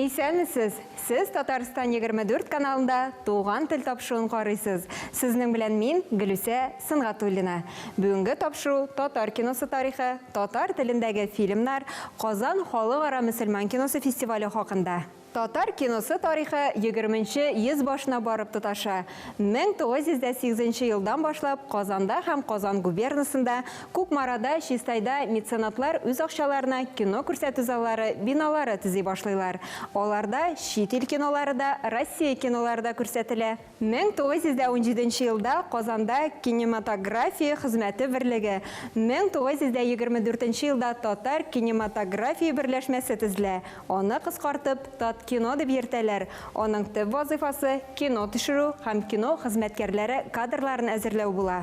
Исәнмесез! Сез Татарстан 24 каналында Туган тел тапшыруын карыйсыз. Сезнең белән мин, Гөлүсә Сынгатуллина. Бүгенге тапшыру татар киносы тарихы, татар телендәге фильмнар, Казан халыкара мөселман киносы фестивале хакында. Татар киносы тарихы егерменче йөз башына барып тоташа. Мең тугыз йөз дә сигезенче елдан башлап Казанда һәм Казан губернасында Кукмарада, Чистайда меценатлар үз акчаларына кино күрсәтү заллары, биналары төзи башлыйлар. Аларда чит ил кинолары да, Россия кинолары да күрсәтелә. 1917 елда Казанда Кинематография хезмәте берлеге, 1924 елда Татар кинематография берләшмәсе төзелә. Аны кыскартып, Таткино дип йөртәләр. Аның төп вазыйфасы, кино төшерү һәм кино хезмәткәрләре кадрларын әзерләү була.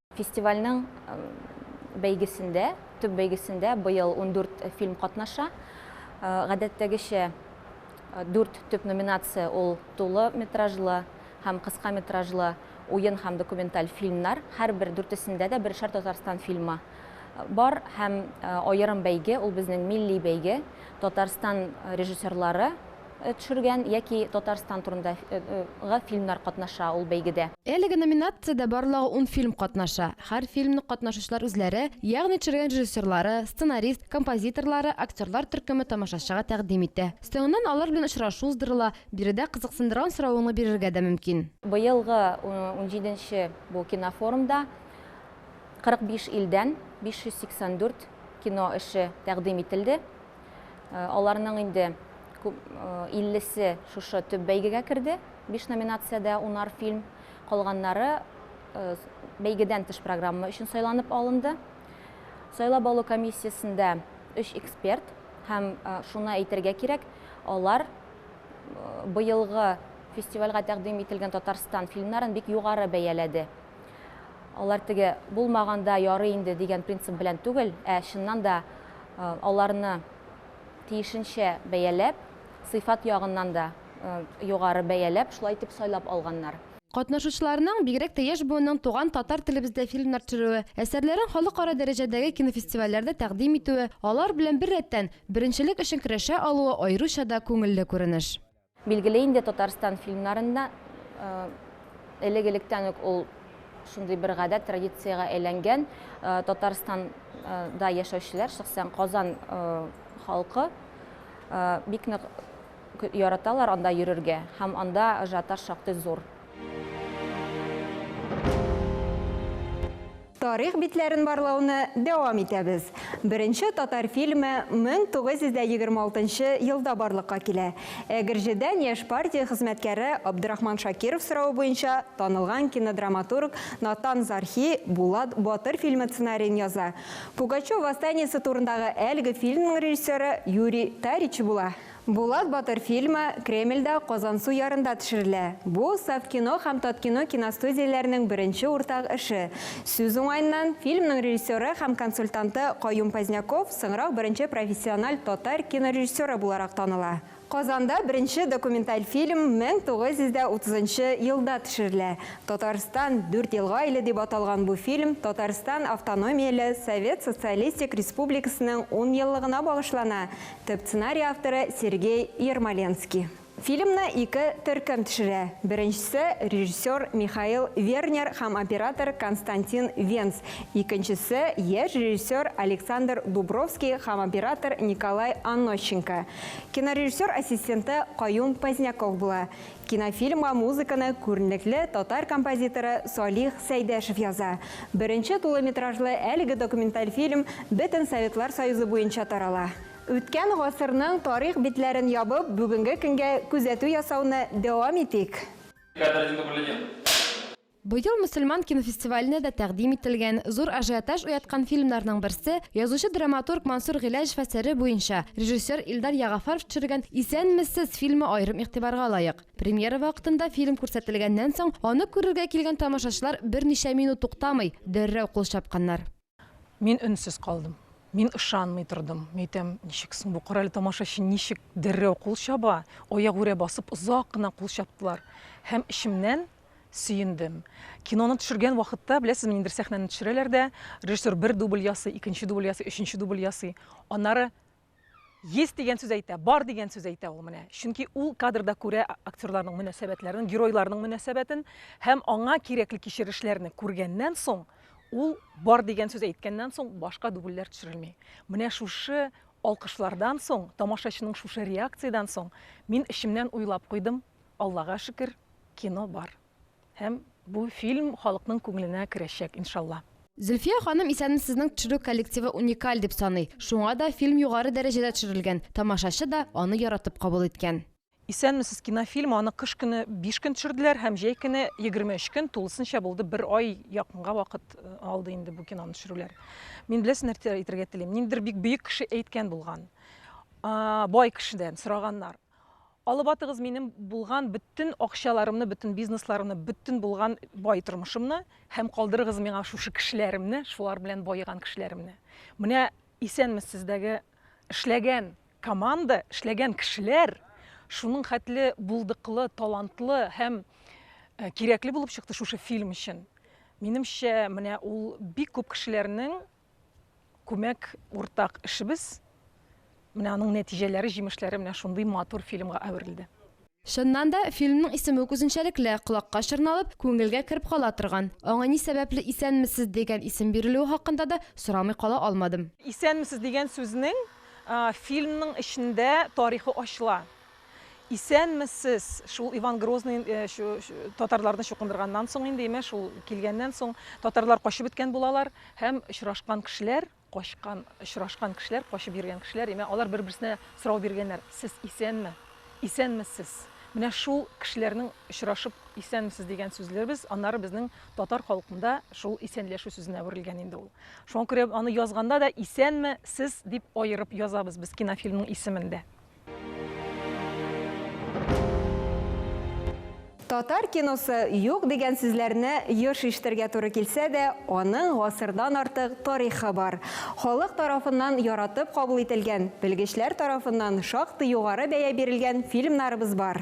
Фестивальнең бәйгесендә, төп бәйгесендә быел ундүрт фильм катнаша. Гадәттәгечә, дүрт төп номинация ул тулы метражлы һәм кыска метражлы уен һәм документаль фильмнар. Һәрбер дүртесендә дә бершәр Татарстан фильмы бар һәм аерым бәйге, ул безнең милли бәйге. Татарстан режиссерлары төшергән яки Татарстан турында гы фильмнар катнаша ул бәйгедә. Әлеге номинациядә барлыгы ун фильм катнаша. Һәр фильмны катнашучылар үзләре, ягъни төшергән режиссерлары, сценарист, композиторлары, актерлар төркеме тамашачыга тәкъдим итә. Соңыннан алар белән очрашу уздырыла, биредә кызыксындырган соравыңны бирергә дә мөмкин. Быелгы унҗиденче бу кинофорумда 45 илдән 584 кино эше тәкъдим ителде. Э, аларның инде күп э, иллесе шушы төп бәйгегә керде биш номинациядә унар фильм калганнары э, бәйгедән тыш программа өчен сайланып алынды сайлап алу комиссиясендә өч эксперт һәм шуны әйтергә кирәк алар быелгы фестивальгә тәкъдим ителгән татарстан фильмнарын бик югары бәяләде алар теге булмаганда ярый инде дигән принцип белән түгел ә чыннан да Аларны тиешенчә бәяләп, сыйфат ягыннан да югары бәяләп, шулай итеп сайлап алганнар. Катнашучыларның, бигрәк тә яшь буынның туган татар телебездә фильмнар төшерүе, әсәрләрен халыкара дәрәҗәдәге кинофестивальләрдә тәкъдим итүе, алар белән беррәттән, беренчелек өчен көрәшә алуы аеруча да күңелле күренеш. Билгеле инде, Татарстан фильмнарында элек-электән үк ул шундый бер гадәт, традициягә әйләнгән. Татарстанда яшәүчеләр, шәхсән Казан халкы бик нык яраталар анда йөрергә һәм анда ажиотаж шактый зур. Тарих битләрен барлауны дәвам итәбез. Беренче татар фильмы 1926 елда барлыкка килә. Әгерҗедән яшь партия хезмәткәре Абдырахман Шакиров соравы буенча танылган кинодраматург Натан Зархи Булат батыр фильмы сценариен яза. Пугачев восстаниесе турындагы әлеге фильмның режиссеры Юрий Тарич була. Булат батыр фильмы Кремльдә Казансу ярында төшерелә. Бу, Совкино һәм Таткино киностудияләренең беренче уртак эше. Сүз уңаеннан, фильмның режиссеры һәм консультанты Каюм Позняков соңрак беренче профессиональ татар кинорежиссеры буларак таныла. Казанда беренче документаль фильм 1930 нчы елда төшерелә. Татарстан, дүрт елга иле дип аталган бу фильм Татарстан автономияле Совет Социалистик Республикасының ун еллыгына багышлана, Төп сценарий авторы Сергей Ермоленский. Фильмны ике төркем төшерә. Беренчесе, режиссер Михаил Вернер һәм оператор Константин Венц, икенчесе, яшь режиссер Александр Дубровский һәм оператор Николай Анощенко. Кинорежиссер ассистенты Каюм Поздняков була. Кинофильмга музыканы күренекле татар композиторы Салих Сәйдәшев яза. Беренче тулыметражлы әлеге документаль фильм бөтен Советлар Союзы буенча тарала. Үткән гасырның тарих битләрен ябып, бүгенге көнгә күзәтү ясауны дәвам итик. Быел мөселман кинофестиваленә дә тәкъдим ителгән, зур ажиотаж уяткан фильмнарның берсе, язучы-драматург Мансур Гыйләҗев әсәре буенча режиссер Илдар Ягафаров төшергән Исәнмесез! фильмы аерым игътибарга лаек. Премьера вакытында фильм күрсәтелгәннән соң, аны күрергә килгән тамашачылар берничә минут туктамый, дәррәү кул чапканнар. Мин өнсез калдым. Мин ышанмый тордым. Мин әйтәм, ничек соң бу корале тамашачы ничек дәррәү кул чаба? Аягүрә басып озак кына кул чаптылар. Һәм эчемнән сөендем. Киноны төшергән вакытта, беләсезме, ниндидер сәхнәне төшерәләр дә, режиссер бер дубль ясый, икенче дубль ясый, өченче дубль ясый. Аннары Есть дигән сүз әйтә, бар дигән сүз әйтә ул менә. Чөнки ул кадрда күрә актерларның мөнәсәбәтләрен, геройларның мөнәсәбәтен һәм аңа кирәкле кичерешләрне күргәннән соң, ул бар дигән сүз әйткәннән соң башка дубльләр төшерелми. Менә шушы алкышлардан соң, тамашачының шушы реакциядән соң мин эчемнән уйлап куйдым, Аллага шөкер, кино бар. Һәм бу фильм халыкның күңеленә керәчәк, иншалла. Зөлфия ханым исәнме сезнең төшерү коллективы уникаль дип саный, шуңа да фильм югары дәрәҗәдә төшерелгән, тамашачы да аны яратып кабул иткән. Исәнмесез, кинофильм аны кыш көне биш көн төшерделәр һәм җәй көне егерме өч көн, тулысынча булды, бер ай якынга вакыт алды инде бу киноны төшерүләр. Мин беләсез нәрсә әйтергә телим, ниндидер бик бөек кеше әйткән булган, бай кешедән сораганнар. Алып атыгыз минем булган бөтен акчаларымны, бөтен бизнесларымны, бөтен булган бай тормышымны һәм калдырыгыз миңа шушы кешеләремне, шулар белән баеган кешеләремне. Менә исәнмез сездәге эшләгән команда, эшләгән кешеләр, шуның хәтле булдыклы, талантлы һәм кирәкле булып чыкты шушы фильм өчен. Минемчә, менә ул бик күп кешеләрнең Күмәк уртак эшебез, менә аның нәтиҗәләре, җимешләре менә шундый матур фильмга әверелде. Чыннан да, фильмның исеме үк үзенчәлекле, колакка чорналып, күңелгә кереп кала торган. Аңа ни сәбәпле Исәнмесез дигән исем бирелүе хакында да сорамый кала алмадым. Исәнмесез дигән сүзнең фильмның эчендә тарихы ачыла. Исәнмесез! Шул Иван Грозный татарларны чукындырганнан соң инде, имеш, ул килгәннән соң татарлар качып беткән булалар һәм очрашкан кешеләр, качкан, очрашкан кешеләр, качып йөргән кешеләр, имә, алар бер-берсенә сорау биргәннәр, сез исәнме? Исәнмесез! Менә шул кешеләрнең очрашып исәнмесез дигән сүзләребез, аннары безнең татар халкында шул исәнләшү сүзенә әверелгән инде ул. Шуңа күрә аны язганда да исәнме, сез дип аерып язабыз без кинофильмның исемендә. Татар киносы юк дигән сүзләрне еш ишетергә туры килсә дә, аның гасырдан артык тарихы бар. Халык тарафыннан яратып кабул ителгән, белгечләр тарафыннан шактый югары бәя бирелгән фильмнарыбыз бар.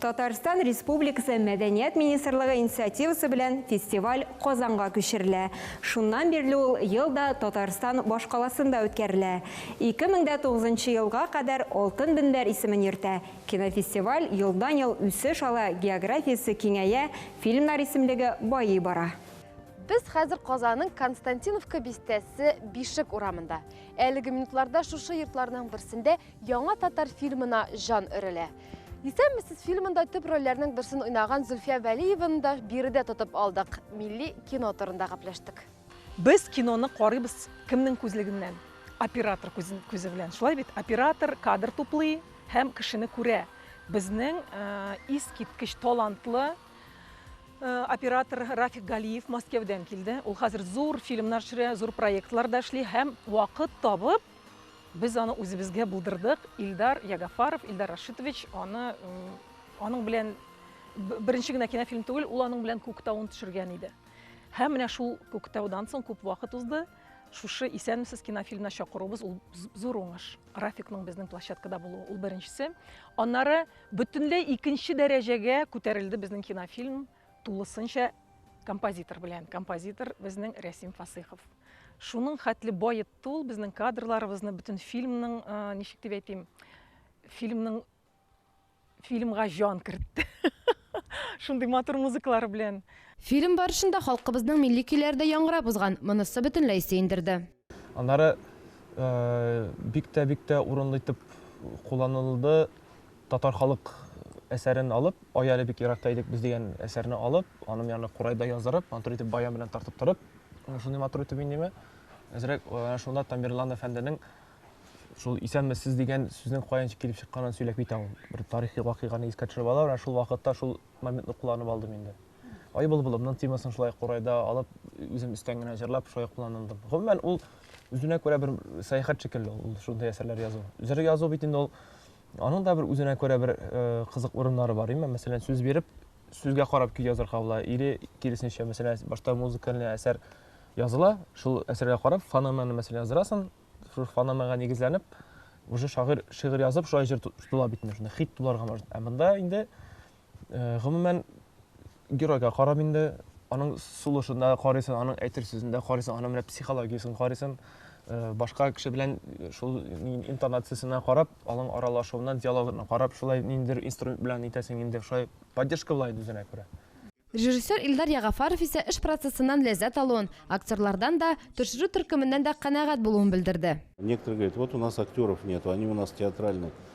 Татарстан Республикасы Мәдәният министрлыгы инициативасы белән фестиваль Казанга күчерелә. Шуннан бирле ул ел да Татарстан башкаласында үткәрелә. 2009 нчы елга кадәр Алтын мөнбәр исемен йөртә. Кинофестиваль елдан-ел үсеш ала, географиясе киңәя, фильмнар исемлеге байый бара. Без хәзер Казанның Константиновка бистәсе Бишек урамында. Әлеге минутларда шушы йортларның берсендә Яңа татар фильмына җан өрелә. Исәнмесез фильмында төп рольләрнең берсен уйнаган Зөлфия Вәлиеваны да биредә тотып алдык. Милли кино турында гәпләштек. Без киноны карыйбыз кемнең күзлегеннән? Оператор күзе белән, шулай бит? Оператор кадр туплый һәм кешене күрә. Безнең искиткеч талантлы оператор Рафик Галиев Мәскәүдән килде. Ул хәзер зур фильмнар төшерә, зур проектларда эшли һәм вакыт табып Без аны үзебезгә булдырдык. Илдар Ягафаров, Илдар Рашитович аны аның белән беренче генә кинофильм түгел, ул аның белән Күктауын төшергән иде. Һәм менә шул Күктаудан соң күп вакыт узды. Шушы Исәнмесез кинофильмына чакыруыбыз ул зур уңыш. Рафикның безнең площадкада булуы ул беренчесе. Аннары бөтенләй икенче дәрәҗәгә күтәрелде безнең кинофильм. Тулысынча композитор белән. Композитор безнең Рәсим Фасыйхов. Шуның хәтле баетты ул безнең кадрларыбызны, бөтен фильмның, э, ничек дип әйтим, фильмның фильмга җан кертте. Шундый матур музыкалар белән. Фильм барышында халкыбызның милли көйләре дә яңгырап узган, монысы бөтенләй сөендерде. Аннары э, бик тә бик тә урынлы итеп кулланылды Татар халык әсәрен алып, Ай әле бик еракта идек без дигән әсәрне алып, аның янына курай да яздырып, матур итеп баян белән тартып торып, шундый матур итеп минеме, әзрәк шунда Тамерлан әфәнденең шул исәнмесез дигән сүзнең каян килеп чыкканын сөйләп китә ул. Бер тарихи вакыйганы искә төшереп ала, менә шул вакытта шул моментны кулланып алдым инде. Ай былбылымның темасын шулай курайда алып, үзем өстән генә җырлап, шулай кулландым. Гомумән, ул үзенә күрә бер сәяхәт шикелле ул шундый әсәрләр язу. Җыр язу бит инде ул Аның да бер үзенә күрә бер кызык урыннары бар, имма мәсәлән, сүз биреп, сүзгә карап көй язырга була, или киресенчә, мәсәлән, башта музыкальный әсәр языла, шул әсәргә карап, фонеманы мәсәлән яздырасың, шул фонемага нигезләнеп, уже шагыйрь шигырь язып, шулай җыр тотыла бит инде, шунда хит булырга мөмкин. Ә монда инде Гомумән, геройга карап инде, аның сулышын да карыйсың, аның әйтер сүзен дә карыйсың, аның менә психологиясен карыйсың. Башка кеше белән шул интонациясенә карап, аның аралашуына, диалогына карап, шулай ниндидер инструмент белән итәсең инде, шулай поддержка була инде үзенә күрә. Режиссер Илдар Ягафаров исә эш процессыннан ләззәт алуын, актерлардан да, төшерү төркеменнән дә канәгать булуын белдерде. Некоторые говорят, вот у нас актеров нету, они у нас театральные.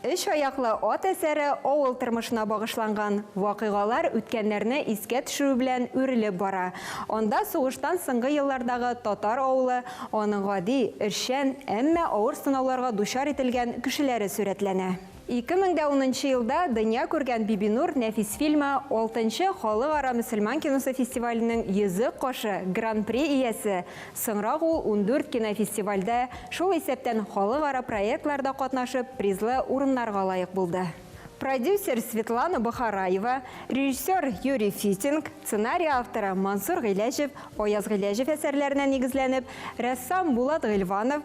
Өч аяклы ат әсәре авыл тормышына багышланган. Вакыйгалар үткәннәрне искә төшерү белән үрелеп бара. Анда сугыштан соңгы еллардагы татар авылы, аның гади, эшчән, әмма авыр сынауларга дучар ителгән кешеләре сурәтләнә. 2010 нчы елда дөнья күргән Бибинур нәфис фильмы алтынчы Халыкара мөселман киносы фестиваленең Йөзек кашы гран-при иясе Соңрак ул ундүрт кинофестивальдә, шул исәптән халыкара проектларда катнашып, призлы урыннарга лаек булды. Продюсер Светлана Бохараева, режиссер Юрий Фитинг, сценарий авторы Мансур Гыйләҗев, Аяз Гыйләҗев әсәрләренә нигезләнеп, рәссам Булат Гыйльванов,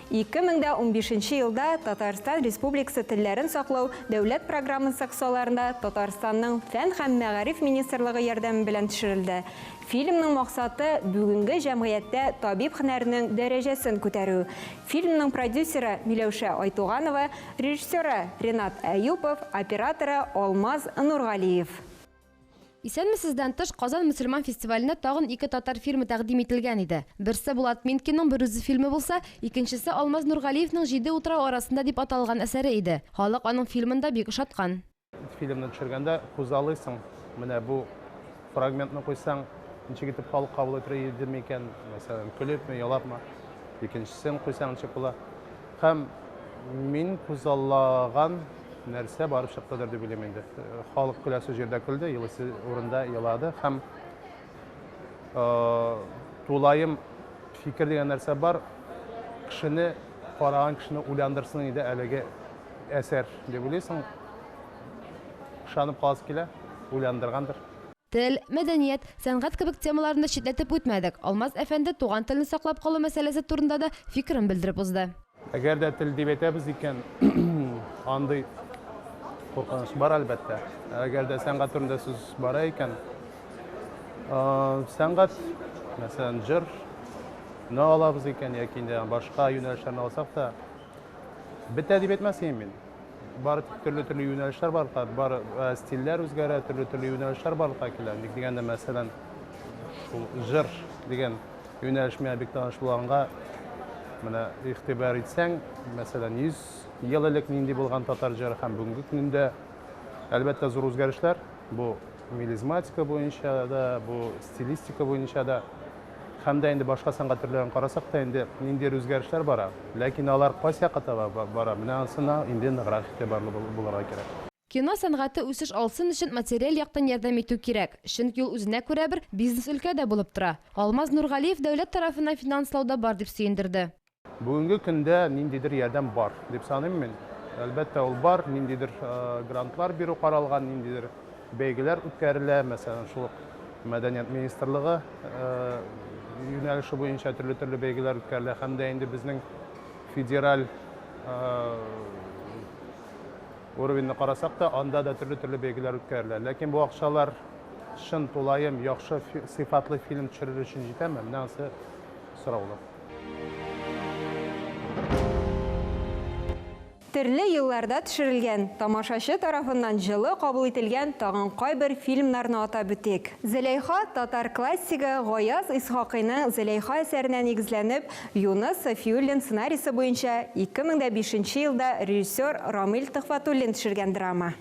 Ике мең дә унбишенче елда Татарстан Республикасы телләрен саклау дәүләт программасы кысаларында Татарстанның Фән һәм мәгариф министрлыгы ярдәме белән төшерелде. Фильмның максаты, бүгенге җәмгыятьтә табиб һөнәренең дәрәҗәсен күтәрү. Фильмның продюсеры, Миләүшә Айтуганова, режиссеры, Ренат Әюпов, операторы, Алмаз Нургалиев. Исәнмесездән тыш, Казан мөселман фестиваленә тагын ике татар фильмы тәкъдим ителгән иде. Берсе Булат Минкинның Берүзе фильмы булса, икенчесе Алмаз Нургалиевның Җиде утрау арасында дип аталган әсәре иде. Халык аның фильмын да бик ошаткан. Фильмны төшергәндә күзаллыйсың, менә бу фрагментны куйсаң, ничек итеп халык кабул итер иде микән, мәсәлән, көлепме, елапмы. Икенчесен куйсаң, ничек була. Һәм мин күзаллаган нәрсә барып чыктыдыр дип уйлыйм инде. Халык көләсе җирдә көлде, елыйсы урында елады. Һәм тулаем фикер дигән нәрсә бар, кешене, караган кешене уйландырсын иде әлеге әсәр, дип уйлыйсың. Ышанып каласы килә, уйландыргандыр. Тел, мәдәният, сәнгать кебек темаларны читләтеп үтмәдек. Алмаз әфәнде туган телне саклап калу мәсьәләсе турында да фикерен белдереп узды. Әгәр дә тел дип әйтәбез икән, андый куркыныч бар, әлбәттә. Әгәр дә сәнгать турында сүз бара икән, сәнгать, мәсәлән, җыр, ны алабыз икән яки инде башка юнәлешләрне алсак та, Бетә дип әйтмәсем мин. Бар төрле-төрле юнәлешләр барлыкка, бар э, стильләр үзгәрә, төрле-төрле юнәлешләр барлыкка килә. Ник дигәндә, мәсәлән, шул җыр дигән юнәлеш миңа бик таныш булганга, менә игътибар итсәң, мәсәлән, 100 ел элек нинди булган татар җыры һәм бүгенге көндә, әлбәттә, зур үзгәрешләр. Бу мелизматика буенча да, бу стилистика буенча да. Һәм дә инде башка сәнгать төрләрен карасак та инде ниндидер үзгәрешләр бара. Ләкин алар кайсы якка таба бара, менә анысына инде ныграк игътибарлы булырга кирәк. Кино сәнгате үсеш алсын өчен материаль яктан ярдәм итү кирәк, чөнки ул үзенә күрә бер бизнес-өлкә дә булып тора. Алмаз Нургалиев дәүләт тарафыннан финанслау да бар дип сөендерде. Бүгенге көндә ниндидер ярдәм бар, дип саныйм мин. Әлбәттә, ул бар, ниндидер грантлар бирү каралган, ниндидер бәйгеләр үткәрелә, мәсәлән, шул ук Мәдәният министрлыгы юнәлеше буенча төрле-төрле бәйгеләр үткәрелә һәм дә инде безнең федераль уровеньны карасак та, анда да төрле-төрле бәйгеләр үткәрелә. Ләкин бу акчалар чын тулаем яхшы сыйфатлы фильм төшерер өчен җитәме? Менә анысы сораулы. Төрле елларда төшерелгән, тамашачы тарафыннан җылы кабул ителгән тагын кайбер фильмнарны атап үтик. Зөләйха, татар классигы Гаяз Исхакыйның Зөләйха әсәренә нигезләнеп, Юныс Сафиуллин сценарисе буенча 2005 елда режиссер Рамил Төхфәтуллин төшергән драма.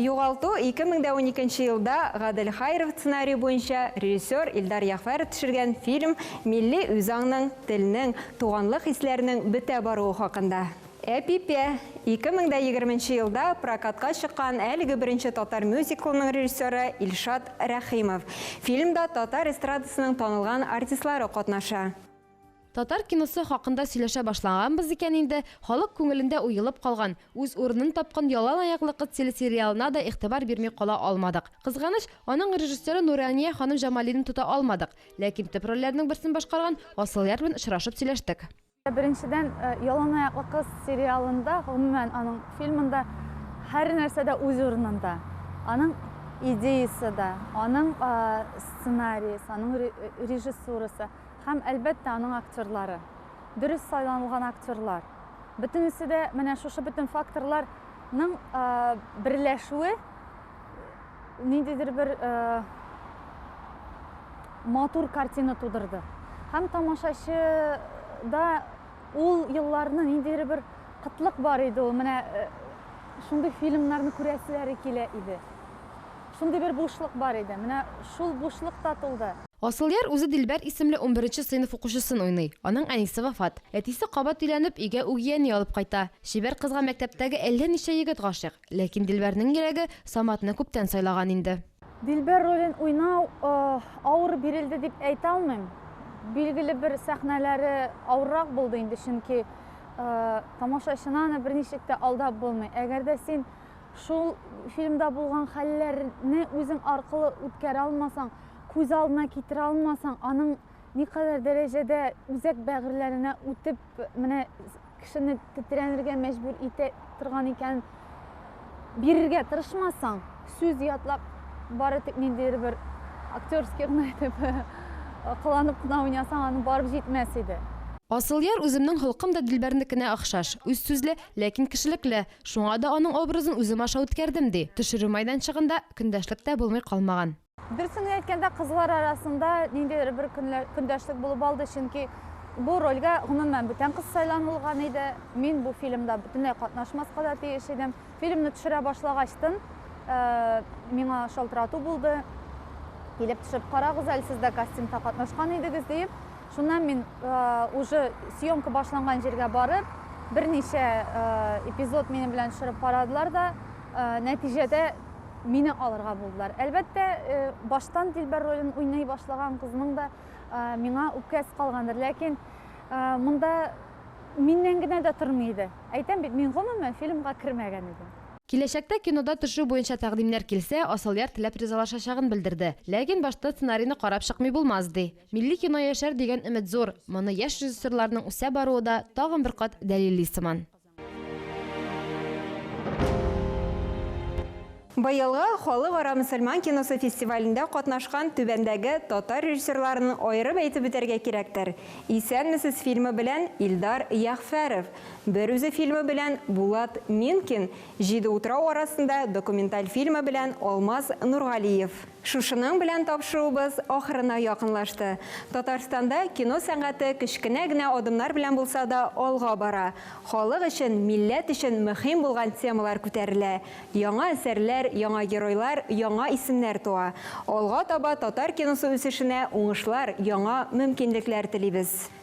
Югалту ике мең дә уникенче елда Гадел Хаиров сценарие буенча режиссер Илдар Ягъфәров төшергән фильм милли үзаңның, телнең, туганлык хисләренең бетә баруы хакында. Әпипә, ике мең дә егерменче елда прокатка чыккан әлеге беренче татар мюзиклының режиссеры Илшат Рәхимов. Фильмда татар эстрадасының танылган артистлары катнаша. Татар киносы хакында сөйләшә башлаганбыз икән инде, халык күңелендә уелып калган, үз урынын тапкан Ялан аяклы кыз телесериалына да игътибар бирми кала алмадык. Кызганыч, аның режиссеры Нурания ханым Җамалине тота алмадык. Ләкин төп рольләрнең берсен башкарган Асылъяр белән очрашып сөйләштек. Беренчедән, Ялан аяклы кыз сериалында, гомумән, аның фильмында һәр нәрсә дә үз урынында. Аның идеясы да, аның сценариясе, аның режиссурасы. Һәм, әлбәттә, аның актерлары. Дөрес сайланылган актерлар. Бөтенесе дә, менә шушы бөтен факторлар ның берләшүе ниндидер бер матур картина тудырды. Һәм тамашачы да ул елларны ниндидер бер кытлык бар иде ул, менә шундый фильмнарны күрәселәре килә иде. Шундый бер бушлык бар иде. Менә шул бушлык та тулды. Асылъяр үзе Дилбәр исемле унберенче сыйныф укучысын уйный. Аның әнисе вафат. Әтисе кабат өйләнеп, өйгә үгияни алып кайта. Чибәр кызга мәктәптәге әллә ничә егет гашыйк. Ләкин Дилбәрнең йөрәге Саматны күптән сайлаган инде. Дилбәр ролен уйнау авыр бирелде дип әйтә алмыйм. Билгеле бер сәхнәләре авыррак булды инде, чөнки тамашачыны аны берничек тә алдап булмый. Әгәр дә син шул фильмда булган хәлләрне үзең аркылы үткәрә алмасаң, күз алдына китерә алмасаң, аның никадәр дәрәҗәдә үзәк бәгырьләренә үтеп, менә кешене тетрәнергә мәҗбүр итә торган икән, бирергә тырышмасаң, сүз ятлап, бары тик ниндидер бер актерский гына итеп кыланып кына уйнасаң, аны барып җитмәс иде. Асылъяр үземнең холкым да Дилбәрнекенә охшаш, үз сүзле, ләкин кешелекле. Шуңа да аның образын үзем аша үткәрдем, ди. Төшерү мәйданчыгында көндәшлек тә булмый калмаган. Дөресен генә әйткәндә, кызлар арасында ниндидер бер көндәшлек булып алды, чөнки бу рольгә гомумән бүтән кыз сайланылган иде. Мин бу фильмда бөтенләй катнашмаска да тиеш идем. Фильмны төшерә башлагачтын, э, миңа шалтырату булды. Килеп төшеп карагыз әле, сез дә кастингта катнашкан идегез диеп. Шуннан мин э, уже съемка башланган җиргә барып, берничә э, эпизод минем белән төшереп карадылар да, нәтиҗәдә мине алырга булдылар. Әлбәттә, э, баштан Дилбәр ролен уйный башлаган кызның да э, миңа үпкәсе калгандыр, ләкин э, монда миннән генә дә тормый иде. Әйтәм бит, мин гомумән фильмга кермәгән идем. Киләчәктә кинода төшү буенча тәкъдимнәр килсә, Асылъяр теләп ризалашачагын белдерде. Ләкин башта сценарийны карап чыкмый булмас, ди. Милли кино яшәр дигән өмет зур. Моны яшь режиссерларның үсә баруы да тагын бер кат дәлилли сыман. Быелгы Халыкара мөселман киносы фестивалендә катнашкан түбәндәге татар режиссерларын аерып әйтеп үтәргә кирәктер, Исәнмесез фильмы белән Илдар Ягъфәров, Берүзе фильмы белән Булат Минкин, Җиде утрау арасында документаль фильмы белән Алмаз Нургалиев. Шушының белән тапшыруыбыз ахырына якынлашты. Татарстанда кино сәнгате кечкенә генә адымнар белән булса да алга бара. Халык өчен, милләт өчен мөһим булган темалар күтәрелә, яңа әсәрләр, яңа геройлар, яңа исемнәр туа. Алга таба татар киносы үсешенә уңышлар, яңа мөмкинлекләр телибез.